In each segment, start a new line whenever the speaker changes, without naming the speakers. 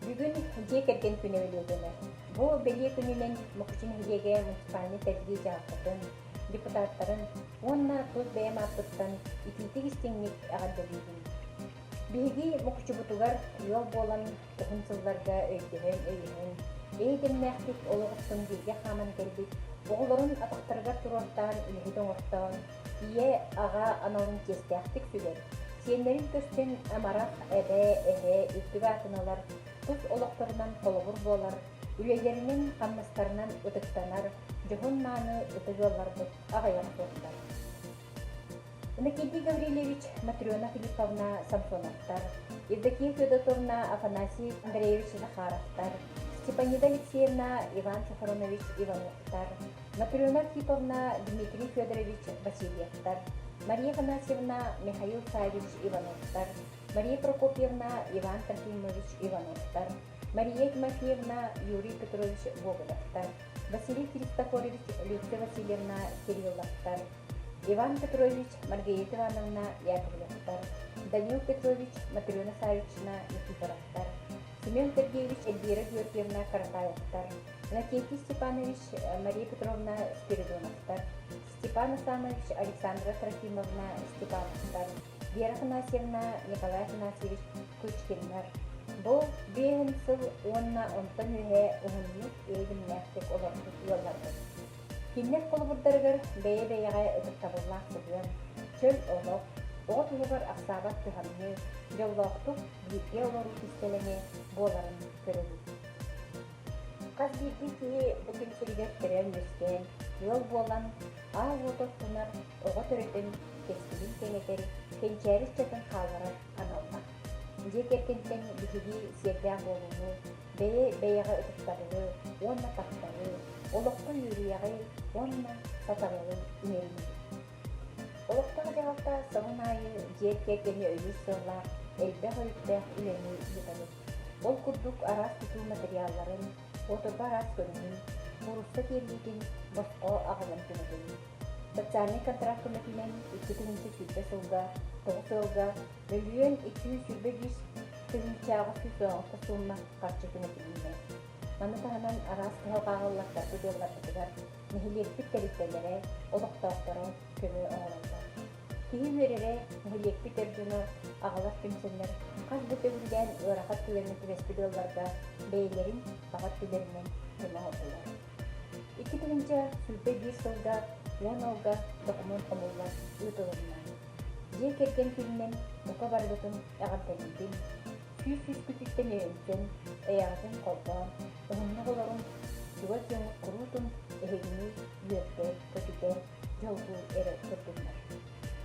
Бүгүн Дьиэ кэргэн күнэ бэлиэтэнэр. Бу бэлиэ күнүнэн Мукучу нэһилиэгэ муниципальнай тэрилии дьаһалтатын, депутаттарын уонна тус бэйэм ааппыттан итиитик-истиҥник эҕэрдэлиибин. Биһиги Мукучубутугар ыал буолан Кыһын сылларга өйдөһөн-өйөһөн, эйэ-дэмнээхтик олох охсон бииргэ хааман кэлбит оҕолорун атахтарыгар туруортаан, үлэһит оҥортоон, ийэ, аҕа аналын чиэстээхтик сүгэн, сиэннэрин көрсөн амарах эбэ, эһэ, үрдүк аатыналар тус олохторунан холобур буолар, үлэлэринэн-хамнастарынан ытыктанар дьоһун-мааны ытык ыалларбыт аҕыйах буоллар. Иннокентий Гаврильевич, Матрена Филипповна Самсоновтар, Евдокия Федотовна Афанасий Андреевич Захаровтар, Степанида Алексеевна Иван Сафронович Ивановтар, Матрена Архиповна Дмитрий Федорович Васильевтар, Мария Афанасьевна Михаил Савич Ивановтар, Мария Прокопьевна Иван Трофимович Ивановтар, Мария Тимофеевна, Юрий Петрович Богодовтар, Василий Христофорович Лютка Васильевна Кирилловтар, Иван Петрович Маргарита Ивановна Яковлевтар, Данил Петрович Матрена Савична Никифоровтар, Семен Сергеевич Эльвира Георгиевна Карпаевтар, Иннокентий Степанович э, Мария Петровна Спиридоновтар, Степан Асанович Александра Трофимовна Степановтар, Вера Афанасьевна, Николай Афанасьевич Кучкиннар бу биэһин сыл уонна онтон үөһэ уһуннук, иһитиннээхтик олорбут ыалларбыт. Кинилэр холобурдарыгар бэйэ-бэйэҕэ ытыктабыллаах сыһыан, чөл олох, оҕо тылыгар ахсаабат кыһамныы, дьоллоохтук бииргэ олоруу кистэлэҥэ буоларын көрөбүт. Хас биирдии киһи этин сиригэр төрөөн-үөскээн, ыал буолан, аал уот оттунар, оҕо төрөтөн, кэскилин кэҥэтэр, кэнчээри ыччатын хаалларар аналлаах. Дьиэ кэргэнтэн биһиги сиэрдээх буолууну, бэйэ бэйэҕэ ытыктабылы уонна тапталы, олоххо үөрүйэҕи уонна сатабылы иҥэринэбит. Олохтоох дьаһалта сылын аайы дьиэ кэргэни өйүүр сыаллаах элбэх өйдөөх үлэни ыытабыт. Ол курдук араас тутуу матырыйаалларын, оторго араас көрүҥүн, муурусса тиэрдиитин босхо аҕалан көмөтүн. Социальнай контракт көмөтүнэн икки тыһыынча сүүрбэ сылга тоҕус ыалга мөлүйүөн iki yüz yirmi beş тыһыынчаҕа сүүс доҕорго суумма харчы көмөтүлүүнэ. Маны таһынан араас кыһыл хааллаттар ытыалларбытыгар нэһилиэкпит тэрилтэлэрэ, олохтоохторо көмө оҥороллор. Киһи үөрэрэ, нэһилиэкпит дойдуну аҕалар түмсэннэр хас да төгүллээн ыарахан түгэҥҥэ түбэспит ыалларга бэйэлэрин баҕа өттүлэринэн көмөлөтөлөр. Икки тыһыынча сүүрбэ биир сылга уон алга докумуон хомуллар ыытылынна. Дьиэ кэргэн күнүнэн мука барбытын эҕэрдэлиибин, күүс үскүтүттэн өйөмтөн, эйэҕэтин холбоон, уһуннук олорун чугас дьоҥҥут куруутун эһигини үөрдэ, көтүтэ, дьолгун эрэ көрдүннэр.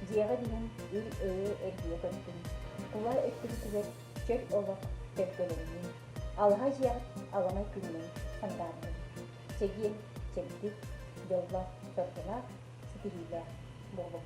Дьиэҕит иһин ил-өйө эргийэ көттүн. Кула өттүгүтүгэр чөл олох төлкөлөннүн. Алаһа дьиэҕит аламай күнүнэн сандааргын. Чэгиэн, чэбдик, дьоллоох, дорҕолоох, ситиһиилээх буолуҥ.